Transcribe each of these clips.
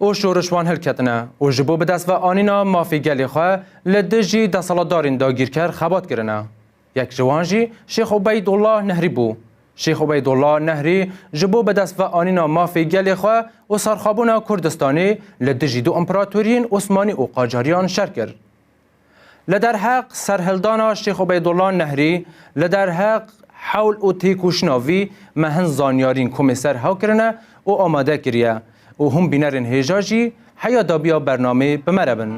û şoriş wan hilketine û ji bo bi dest ve anîna mafê gelê xwe li dijî deselatdarên dagîrker xebat kirine. Yek ji wan jî Şêx Ubeydullah Nehrî bû. Şêx Ubeydullah Nehrî ji bo bi dest ve anîna mafê gelê xwe û serxwebûna Kurdistanê li dijî du împeratoriyên Osmanî û Qacariyan şer kir. Li derheq serhildana Şêx Ubeydullah Nehrî li derheq hewl û têkoşina vî me hin zanyarîn komê ser hew kirine û amade kiriye û hûn bînerên hêja jî heya dabiya bernamê bi me re bin.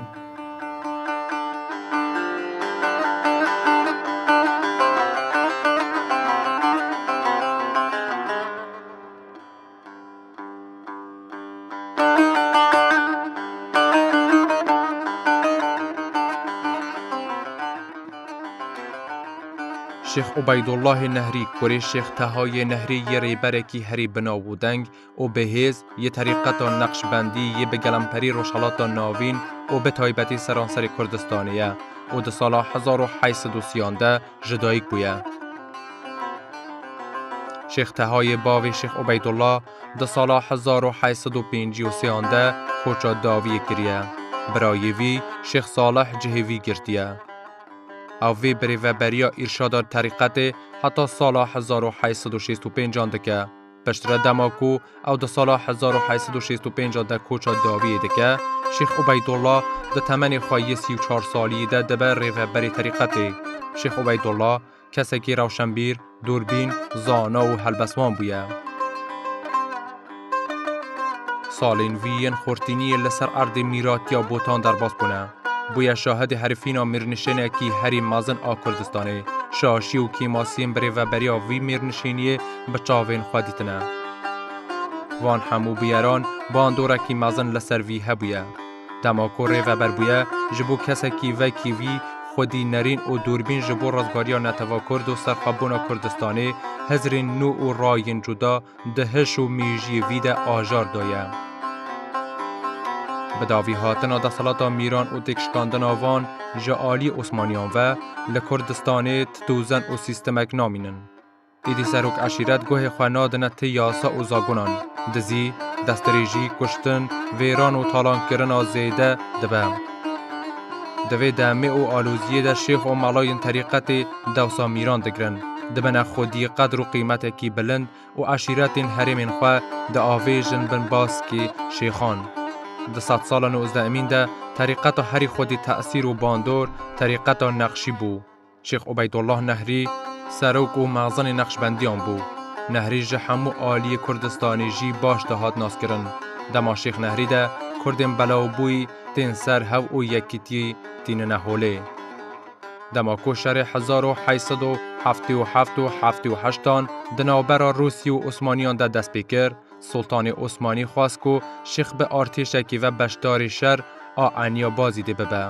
Şêx Ubeydullahê Nehrî kurê Şêx Tehayê Nehrî yê rêberekî herî bi nav û deng û bi hêz yê terîqeta Neqşbendî yê bi gelemperî Rojhilata Navîn û bi taybetî seranserê Kurdistanê ye û di sala hezar û heşt sed û sîyan de ji dayik bûye. Şêx Teha yê bavê Şêx Ubeydullah di sala hezar û heşt sed û pêncî û sêan de koça dawiyê kiriye. Birayê vî Şêx Salih cihê vî girtiye. Ew vê bi rêveberiya îrşada terîqetê heta sala hezar û heşt sed û şêst û pênc an dike. Piştre dema ku ew di sala 1865 de koça dawiyê dike, Şêx Ubeydullah di temenê xwe yê sî û çar salî de dibe rêveberê terîqetê. Şêx Ubeydullah kesekî rewşenbîr, dûrbîn, zana û helbestwan bûye. Salên vî yên xurtîniyê li ser erdê mîratiya Botan derbas bûne. Bûye şahidê herifîna mêrnişênekî herî mezin a Kurdistanê. Şaşî û kêmasiyên bi rêveberiya vî mêrnişêniyê bi çavên xwe dîtine. Van hemû bûyeran bandorekî mezin li ser vî hebûye. Dema ku rêveber bûye, ji bo kesekî vekî wî, xwedî nerîn û dûrbîn ji bo rizgariya Netew'a Kurd û serxwebûna Kurdistanê, hizrên nû û rayên cuda, Di hiş û mîjiyê vî de ajar daye. Bi davî hatina desthilata Mîran û têkşikandina van ji aliyê Osmaniyan ve, li Kurdistanê ti dozen û sîstemek namînin. Êdî serok eşîret guhê xwe nadine ti yasa û zagonan, dizî, destdirêjî, kuştin, vêran û talankirina zêde dibe. Di vê demê û aloziyê de şêx û melayên terîqetê, dewsa mîran digirin, dibine xwedî qedr û qîmetekî bilind û eşîretên herêmên xwe diavêjin bin baskê şêxan. Di sed sala nozdeemîn de terîqeta herî xwedî tesîr û bandor terîqeta Neqşî bû. Şêx Ubeydullah Nehrî serok û mexzenê Neqşbendiyan bû. Nehrî ji hemû aliyê Kurdistanê jî baş dihat naskirin. Dema Şêx Nehrî de Kurdên belawbûyî tên ser hev û yekîtiyê tînine holê. Dema ku şerê hezar û heşt sed û heftê û heft û heftê û heşt an di navbera Rûsî û Osmaniyan de dest pê kir, Sultanê Osmanî xwest ku Şîx bi artêşekî ve beşdarî şer a Eniya Bazîdê bibe.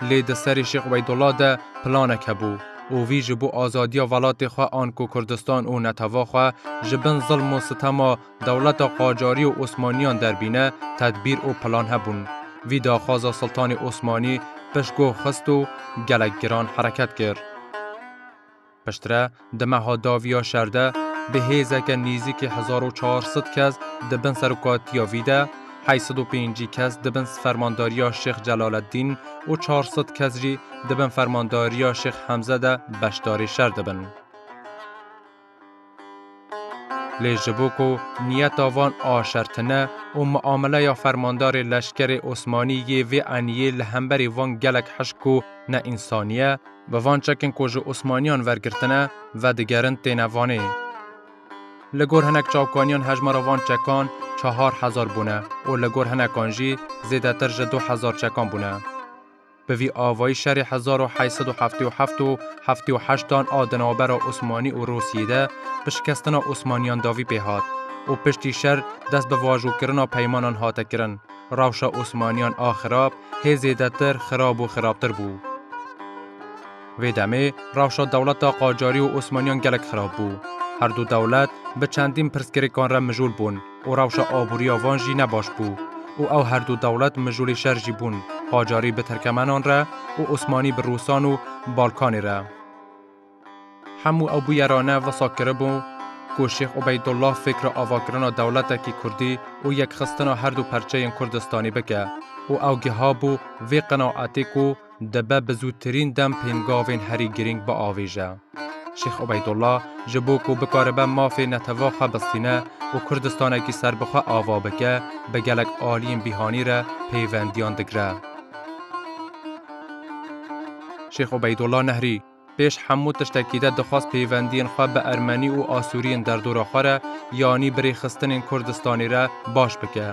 Lê di serê Şîx Weydullah de planek hebû û vî ji bo azadiya velatê xwe an ku Kurdistan û netewê xwe ji bin zilm û sitema Dewleta Qacarî û Osmanîyan derbîne tedbîr û plan hebûn. Vî daxwaza Siltanê Osmanî pişt goh xist û gelek giran hereket kir. Piştre di meha davî ya şer de bi hêzeke nîzîkî hezar û çar sed kes di bin serokatîya vî de heşt sed û pêncî kes di bin fermandariya Şêx Celaleddîn û çar sed kes jî di bin fermandariya Şêx Hemze de beşdarî şer dibin. Lê ji bo ku niyeta van a şertine û miameleya fermandarê leşkerê Osmanî yê vê eniyê li hemberî van gelek hişk û neinsanî ye, bi van çekên ku ji Osmaniyan vergirtine vedigerin têne vanê. Li gor hinek çavkaniyan hejmara van çekan çehar hezar bûne û li gor hinekan jî zêdetir ji du hezar çekan bûne. Bi vî avayî şerê hezar û heşt sed û heftê û heft û heftê û heşt dan a di navbera Osmanî û Rûsiyê de bi şikestina Osmanîyan davî pê hat û piştî şer dest bi vajokirina peymanan hate kirin. Rewşa Osmanîyan a xirab hê zêdetir xirab û xirabtir bû. Vê demê rewşa dewleta Qacarî û Osmanîyan gelek xirab bû. Her du dewlet bi çendîn pirsgirêkan re mijûl bûn. û rewşa aborî ya van jî ne baş bû û ew her du dewlet mijûlê şer jî bûn, qacarî bi tirkemenan re û osmanî bi rûsan û balkanê re. Hemû ew bûyerane wisa kiribû ku Şêx Ubeydullah fêkra avakirina dewletekî kurdî û yekxistina her du perçeyên kurdistanî bike û ew gihabû vê qinaetê ku, Dibe bi zûtirîn dem pêmgavên herî girîng biavêje. Şêx Ubeydullah ji bo ku bikaribe mafê netewa xwe bistîne û Kurdistanekî serbixwe ava bike, bi gelek aliyên bîhanî re pêwendiyan digire. Şêx Ubeydullah Nehrî. Pêş hemû tiştekî de dixwest pêvendiyên xwe bi ermenî û asûriyên derdora xwe re yanî bi rêxistinên Kurdistanê re baş bike.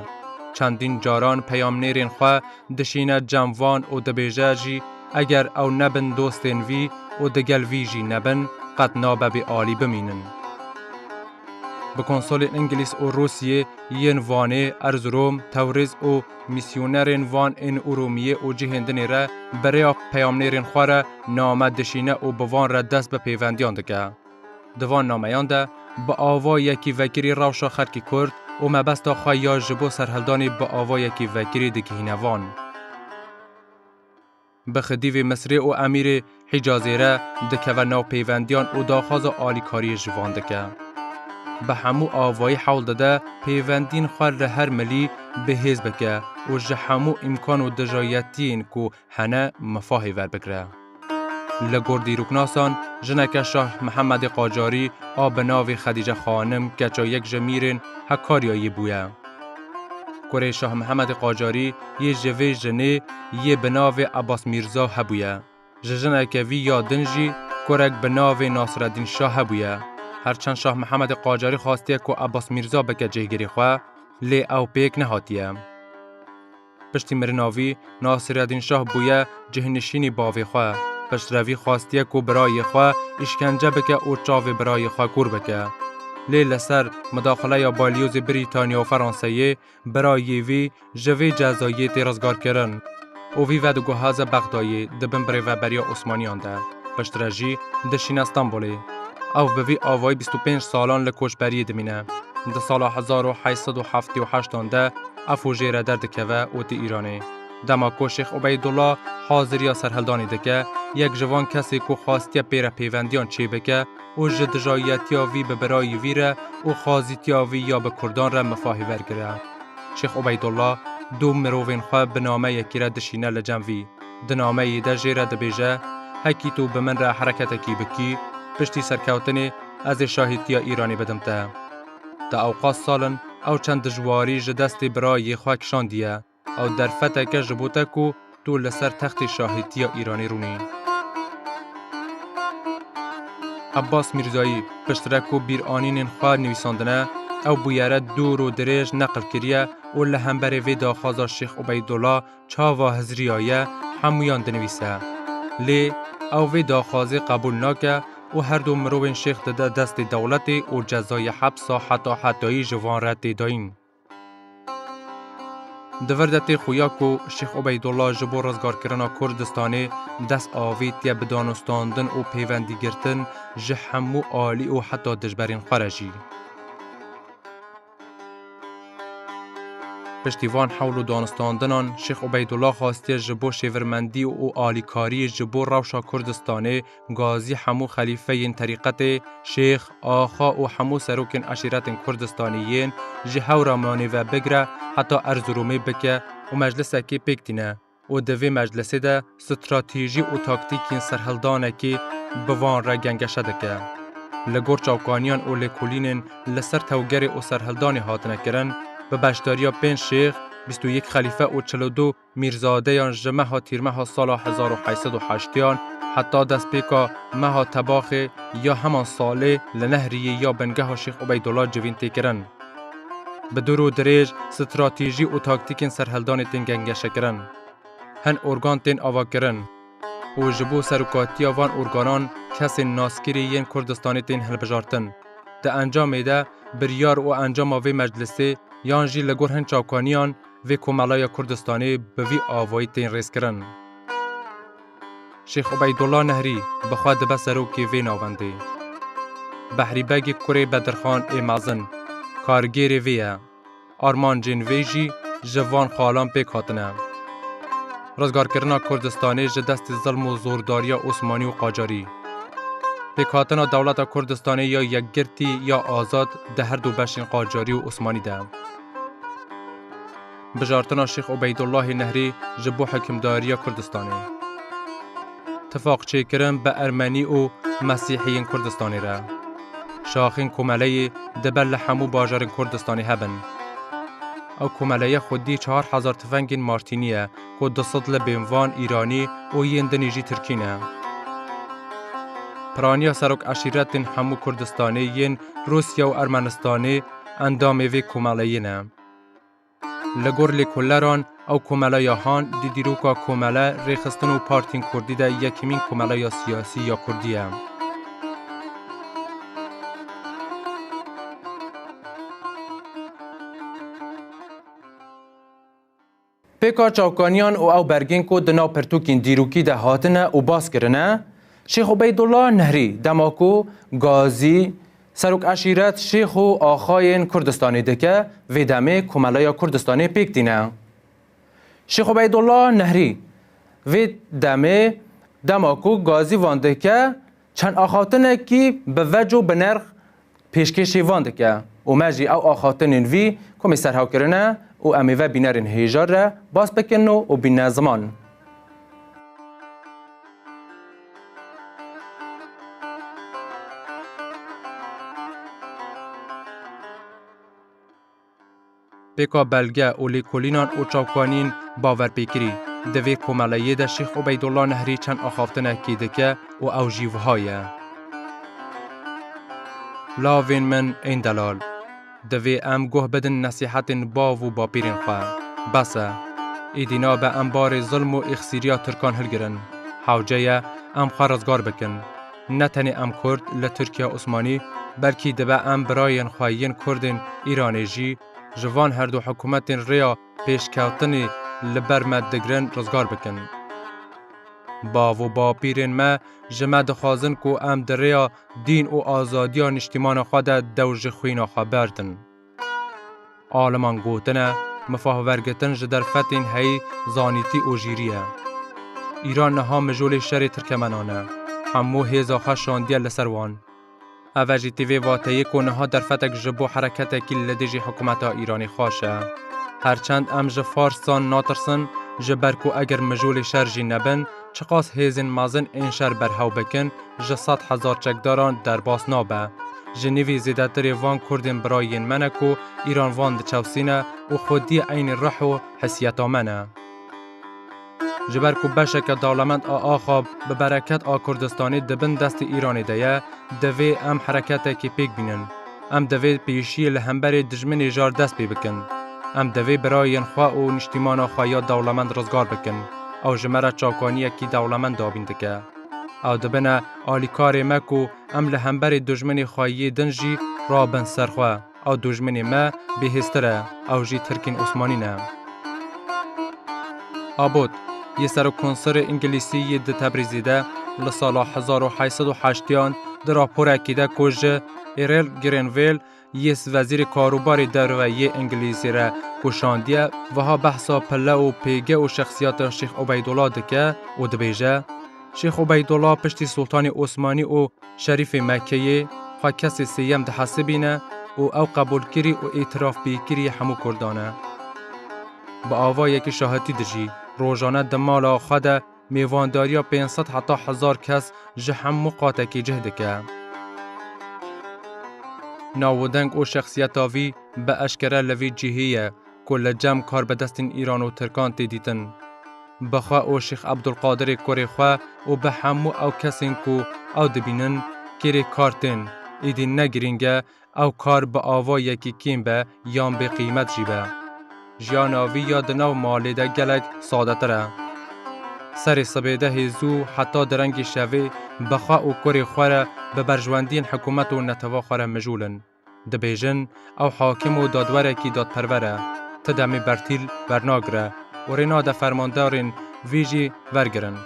Çendîn caran peyamnêrên xwe dişîne cem van û dibêje jî eger ew nebin dostên vî û di gel vî jî nebin qet nabe bê alî bimînin. Bi konsolên Ingilîz û Rûsiyê yên Vanê, Erzurom, Tewrîz û. Mîsyonerên van ên Urûmiyê û cihên dinê re bi rêya peyamnêrên xwe re name dişîne û bi van re dest bi pêvendiyan dike. Di van nameyan de bi ava yekî vekirî rewşa xelkî Kurd û mebesta xwe ya ji bo serhildanê bi ava yekî vekirî digihîne van. Bi xidîvê Misrê û Emîrê Hicazê re dikeve nav pêvendiyan û daxwaza alîkariyê ji van dike. Bi hemû avayî hewl dide pêvendiyên xwe li her milî bi hêz bike û ji hemû îmkan û dijayetiyên ku hene mifahê verbigire. Li gor dîroknasan, jineke Şah Mihemedê Qacarî a bi navê Xedîce Xanim keça yek ji mîrên Hekaryayê bûye. Kurê Şah Mihemedê Qacarî yê ji vê jinê yê bi navê Ebas Mîrza hebûye. Ji jineke vî ya din jî kurek bi navê Nasireddîn Şah hebûye. Her çend Şah Mihemedê Qacarî xwastiye ku Ebas Mîrza bike cihgirê xwe lê ew pêk nehatiye. Piştî mirina vî, Nasîredîn Şah bûye cihnişînî bavê xwe. Xişrevî xwestiye ku birayê xwe îşkence bike û çavê birayê xwe kûr bike. Lê li ser midaxileya balyozê Brîtanya û Franseyê, birayê vî ji vê cezayê tê rizgarkirin û vî ve diguhaze Bexdayê di bin birêveberiya Osmaniyan de, piştre jî dişîne Stenbolê. Ew bi vî avayî bîst û pênc salan li koçberiyê dimîne. Di sala hezar û heşt sed û heftê û heştan de, Ev hojê re derdikeve û tê Îranê. Dema ku Şêx Ubeydullah haziriya serhildanê dike, yek ji van kesê ku xwastiye pê re pêvendiyan çêbike û ji dijayiyetiya vî bi birayî vî re û xazîtiya vî ya bi kurdan re mifahê wergire. Şêx Ubeydullah du mirovên xwe bi nameyekî re dişîne li cem vî. Di nameyê de jê re dibêje, Hekî tu bi min re hereketekî bikî, piştî serkewtinê ez ê şahîtiya Îranê bidim te. Di awqas salin ew çend dijwarî ji destê birayê xwe kişandiye, ew derfeteke ji bo te ku tu li ser textê şahîtiya Îranê rûnî. Abbas Mîrzayî piştre ku bîranînên xwe nivîsandine, ew bûyere dûr û dirêj neqil kiriye û li hemberê vê daxwaza Şêx Ubeydullah, çava Hizriya ye hemûyan dinivîse. Lê ew vê daxwazê qebûl nake û her du mirovên şêx dide destê dewletê û cezayê hepsa heta hetayî ji van re tê dayîn. Di vir de tê xuya ku Şêx Ubeydullah ji bo rizgarkirina Kurdistanê dest avêtiye bi danûstandin û pêwendîgirtin ji hemû alî û heta dijberên xwe re jî. Piştî van hewl û danistandinan Şêx Ubeydullah xastiye ji bo şêvirmendî û alîkariyê ji bo rewşa Kurdistanê gazî hemû xelîfeyên terîqetê, şêx, axa û hemû serokên eşîretên Kurdistanê yên ji hew re manê ve bigire heta Erzirûmê bike û meclisekê pêk tîne. û di vê meclisê de stratejî û taktîkên serhildanekê bi van re gengeşe dike. Li gor çavkaniyan û lêkolînên li ser tewgerê û serhildanê hatine kirin, bi beşdariya pênc şêx, bîst û yek xelîfe û çil û du mîrzadeyan ji meha tîrmeha sala hezar û heşt sed û heştyan heta destpêka meha tebaxê ya heman salê li Nehriyê ya bingeha Şêx Ubeydullah civîn tê kirin. Bi dûr û dirêj stratejî û taktîkên serhildanê tên gengeşekirin. Hin organ tên avakirin û ji bo serokatiya van organan kesên naskirî yên Kurdistanê tên hilbijartin. Di encamê de biryar û encama vê meclisê yan jî li gor hin çavkaniyan vê Komelaya Kurdistanê bi vî avayî tên rêzkirin. Şêx Ubeydullah Nehrî bi xwe dibe serokê vê navendê. Behrî Begê kurê Bedirxan ê mezin kargêrê vê ye. Armancên vê jî ji van xalan pêk hatine. Rizgarkirina Kurdistanê ji destê zilm û zordariya Osmanî û Qacarî. Pêkhatina dewleta Kurdistanê ya yekgirtî ya azad di herdu beşên Qacarî û Osmanî de. Bijartina Şêx Ubeydullahê Nehrî ji bo hikimdariya Kurdistanê. Tifaqçêkirin bi Ermenî û Mesîhiyên Kurdistanê re. Şaxên komeleyê dibe li hemû bajarên Kurdistanê hebin. Ew komeleye xwedî çar hezar tifengên Martînî ye ku du sed li bên van Îranî û yên din jî Tirkî ne. Piraniya serok eşîretên hemû Kurdistanê yên Rûsya û Ermenistanê endamê vê komeleyê ne. Li gor lêkolleran ew komela ya han di dîroka komele, rêxistin û partiyên kurdî de yekemîn komela ya siyasî ya kurdî ye. Pêka çavkaniyan û ew bergên ku di nav pirtûkên dîrokî de hatine û bas kirine, Şêx Ubeydullah Nehrî dema ku Gazî, Serok eşîret, şêx û axayên Kurdistanê dike, vê demê Komeleya Kurdistanê pêk tîne. Şêx Ubeydullah Nehrî, Vê demê dema ku gazî van dike, çend axaftinekî bi vec û bi nerx pêşkêşî van dike û me jî ew axaftinên vî komê serhewkirine û em ê vebînerên hêjar re bas bikin û bîne ziman. Pêka belge û lêkolînan û çavkanîn baver pê kirî. Di vê komeleyê de Şêx Ubeydullah Nehrî çend axaftinekî dike û ew jî wiha ye. Lavên min ên delal. Divê em guh bidin nesîhetên bav û bapîrên xwe. Bes e. Êdî nabe em barê zilm û îxsîriya Tirkan hilgirin. Hewce ye em xwe rizgar bikin. Ne tenê em Kurd li Tirkiya Osmanî belkî dibe em birayên xwe yên Kurdên Îranê jî ji van herdu hikûmetên rêya pêşkewtinê li ber me digirin rizgar bikin. Bav û bapîrên me ji me dixwazin ku em di rêya dîn û azadiya niştîmana xwe de dew ji xwîna xwe berdin. Aliman gotine, mifahwergitin ji derfetên heyî zanîtî û jîrî ye. Îran niha mijolê şerê tirkemenan e. Hemû hêza xwe şandiye li ser wan. Ev e jî tê vê vateyê ku niha derfetek ji bo hereketekî li dijî hikûmeta Îranê xweş e. Her çend em ji farsan natirsin, ji ber ku eger mijolê şer jî nebin, Çiqas hêzên mezin ên şer berhew bikin, ji sed hezar çekdaran derbas nabe. Ji nîvî zêdetirê van kurdên bira yên me ne ku îran van diçewsîne û xwediyê eynî ruh û hesiyeta me ne. Ji ber ku beşeke dewlemend a axa bi bereket a Kurdistanê di bin destê Îranê de ye, divê em hereketekê pêk bînin. Em divê pêşiyê li hemberê dijminê jar dest pê bikin. Em divê birayên xwe û niştîmana xwe ya dewlemend rizgar bikin. Ew ji me re çakaniyekî dewlemend dabîn dike. Ew dibine alîkarê me ku em li hemberê dijminê xwe yê din jî rabin ser xwe. Ew dijminê me bêhêztir e, ew jî tirkên osmanî ne. Abbott, yê serokkonsilê Îngilîsî yê di Tebrîzê de li sala hezar û heşt sed û heştyan di raporekî de ku ji Erel Grenville yê Wezîrê Karûbarê Derve yê Îngilîzî re ku şandiye wiha behsa pille û pêge û şexsiyeta Şêx Ubeydola dike û dibêje, Şêx Ubeydola piştî Sultanê Osmanî û Şerîfê Mekkeyê xwe kesê sêyem dihesibîne û ew qebûlkirî û îtîrafpêkirî yê hemû Kurdan e. Bi avayekî şahetî dijî, rojane di mala xwe de Mêvandariya pênc sed heta hezar kes ji hemû qatekî cih dike. Nav û deng û şexsiyeta vî bi eşkere li vî cihê ye ku li cem karbidestên Îran û Tirkan tê dîtin. Bi xwe û Şêx Ebdulqadirê kurê xwe û bi hemû ew kesên ku ew dibînin kêrê kar tên, êdî ne girîng e Ew kar bi ava yekî kêm be yan bê qîmet jî be. Jiyana vî ya di nav malê de gelek sadetir e. Serê sibêdehê zû heta di rengê şevê bi xwe û kurê xwe re bi berjwendiyên hikûmet û neteva xwe re mijûl in. Dibêjin ew hakim û dadwerekî dadperwer e, ti demê bertîl wernagire û rê nade fermandarên vî jî vergirin.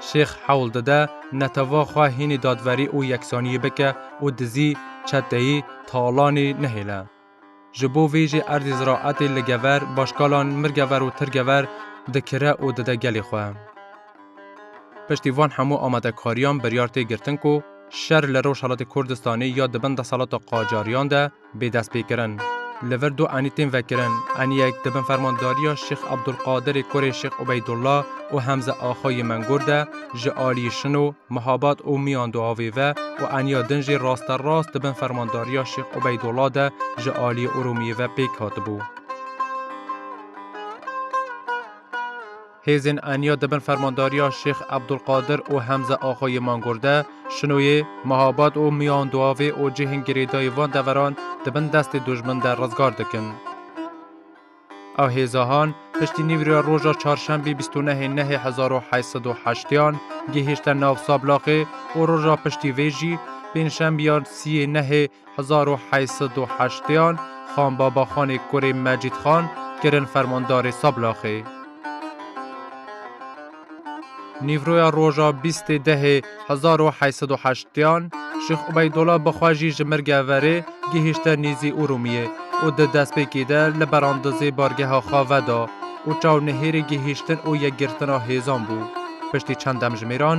Şêx hewl dide neteva xwe hînî dadwerî û yeksaniyê bike, û dizî, çeteyî, talanî nehêle. Ji bo vê jî erdê ziraetê li gever başkalan mirgever û tirgever dikire û dide gelê xwe. Piştî van hemû amadekariyan biryar tê girtin ku şer li Rojhelatê Kurdistanê ya di bin desthilata qacariyan de, bê destpêkirin. Li vir du enî tên vekirin, enîyek di bin fermandariya Şêx Ebdulqadirê kurê Şêx Ubeydullah û Hemze Axa yê Mengûr de ji aliyê Şino, Mihabat û Miyan Duhavê ve û enîya din jî rasterast di bin fermandariya Şêx Ubeydullah de ji aliyê Urûmiyê ve pêk hatibû. Hêzên Enya di bin fermandariya Şêx Ebdulqadir û Hemze Axa yê Mangorde, Şinoyê, Mehabat û Miyanduavê û cihên girêdayî van deveran di bin destê dojmin de rizgar dikin. Ew hêzahan piştî nîvî re roja Çarşembî bîst û nehê Nehê hezar û heşt sed û heştyan gihîşte nav Sablaxê û roja piştî vê jî Pêncşembiyan siyê Nehê Hezar û heşt sed û heştêyan Xan Babaxanê kurê Mecîd Xan kirin fermandarê Sablaxê. Nîvroya roja bîstê dehê hezar û heşt sed û heştêyan Şêx Ubeydola bi xwe jî ji Mirgê verê gihîşte nêzî Urûmiyê û di destpêkê de li berandizê bargeha xwe veda û çaw nihêrê gihîştin û yekgirtina hêzan bû. Piştî çend demjimêran,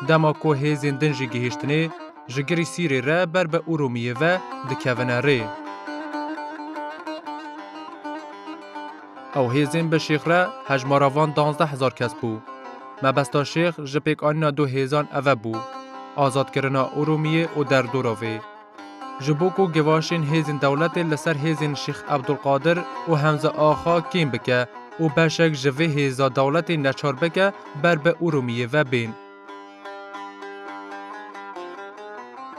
dema ku hêzên din jî gihîştinê, Ji girî Sîrê re ber be Urûmiyê ve dikevine rê. Ew hêzên bi Şêx re hejmara van danzdeh hezar kes bû. Mebesta Şêx ji pêkanîna du hêzan eve bû, azadkirina Urûmiyê û derdora vê. Ji bo ku gevaşên hêzên dewletê li ser hêzên Şêx Ebdulqadir û Hemze Axa kêm bike û beşek ji vê hêza dewletê neçar bike ber bi Urûmiyê ve bên.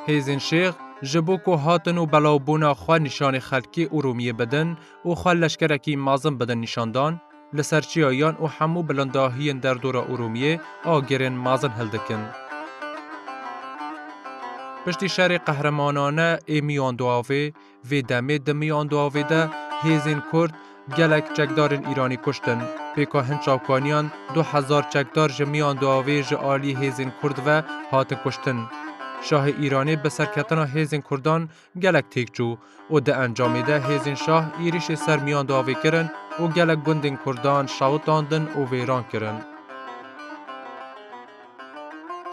Hêzên şêx ji bo ku hatin û belavbûna xwe nîşanê xelkê û Rûmiyê bidin û xwe leşkerekî mezin bidin nîşan dan, li ser çiyayan û hemû bilindahiyên derdora Urûmiyê agirên mezin hildikin. Piştî şerê qehremanane ê miyan du avê, Vê demê di miyan du avê de hêzên Kurd gelek çekdarên Îranî kuştin. Pêka hin çavkaniyan du hezar çekdar ji miyan du avê ji aliyê hêzên Kurd ve hatin kuştin. Şahê Îranê bi serketina hêzên Kurdan gelek têk çû û di encamê de hêzên şah êrîşê ser miyan du avê kirin û gelek gundên Kurdan şewitandin û vêran kirin.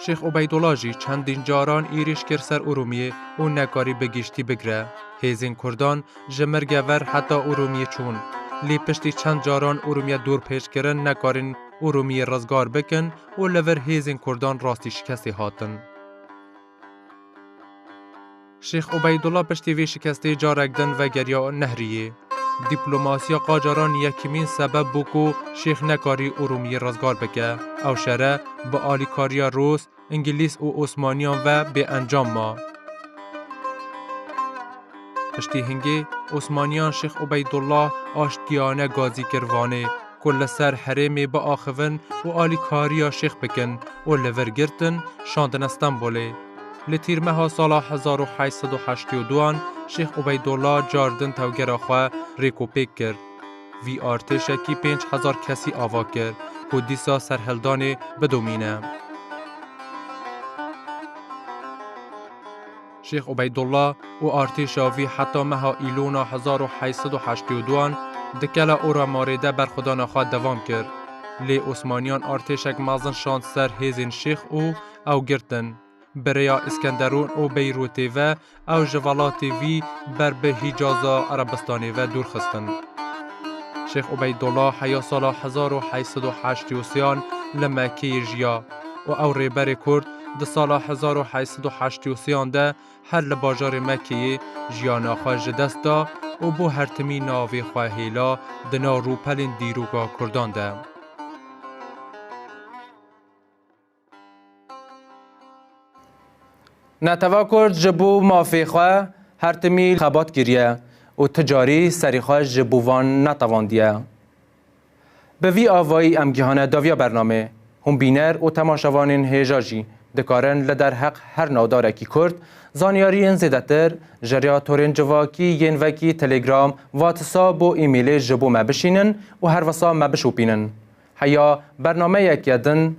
Şêx Ubeydola jî çendîn caran êrîş kir ser Urûmiyê û nekarî bi giştî bigire. Hêzên Kurdan ji Mirge ver heta Urûmiyê çûn. Lê piştî çend caran Urûmiye dûr pêç kirin nekarîn Urûmiyê rizgar bikin û li vir hêzên Kurdan rastî şikestê hatin. Şêx Ubeydullah piştî vê şikestê carek din vegeriya Nehriyê. Dîplomasiya Qacaran yekîmîn sebeb bû ku Şêx nekarî Urûmiyê rizgar bike. Ew şere bi alîkariya Rûs, Ingilîz û Osmaniyan ve bê encam ma. Piştî hingê, Osmaniyan Şêx Ubeydullah aştgiyane gazî kir Vanê. ku li ser herêmê biaxivin û alîkariya şêx bikin û li vir girtin şandine Stenbolê. Li Tîrmeha sala hezar û heşt sed û heştê û du an Şêx Ubeydolla car din tewgera xwe rêk û pêk kir. Vî artêşekî pênc hezar kesî ava kir ku dîsa serhildanê bidomîne. Şêx Ubeydullah û artêşa vî heta meha Îlona hezar û heşt sed û heştê û du an di Kela Ora Marê de berxwedana xwe devam kir. Lê Osmaniyan artêşek mezin şand ser hêzên Şêx û ew girtin. Bi rêya Îskenderûn û Beyrûtê ve ew ji welatê vî ber bi Hîcaza Erebistanê ve dûr xistin. Şêx Ubeydullah heya sala hezar û heşt sed û heştê û sê an li Mekkeyê jiya. û ew rêberê kurd di sala hezar û heşt sed û heştî û sê-an de her li bajarê Mekeyê jiyana xwe ji dest da û bo her timî navê xwe hêla di nav rûpelên dîroka kurdan de. Netew'a kurd ji bo mafê xwe her timî xebat kiriye û tu carî serî xwe ji bo van netevandiye. Bi vî avayî em gihane daviya bernamê. Hûn bîner û temaşevanên hêja jî dikarin li derheq her navdarekî kurd zanyariyên zêdetir ji rêya torên civakî yên vekî Telegram, Whatsa bo emailê ji bo me bişînin û her wisa me bişopînin. Heya bernameyeke din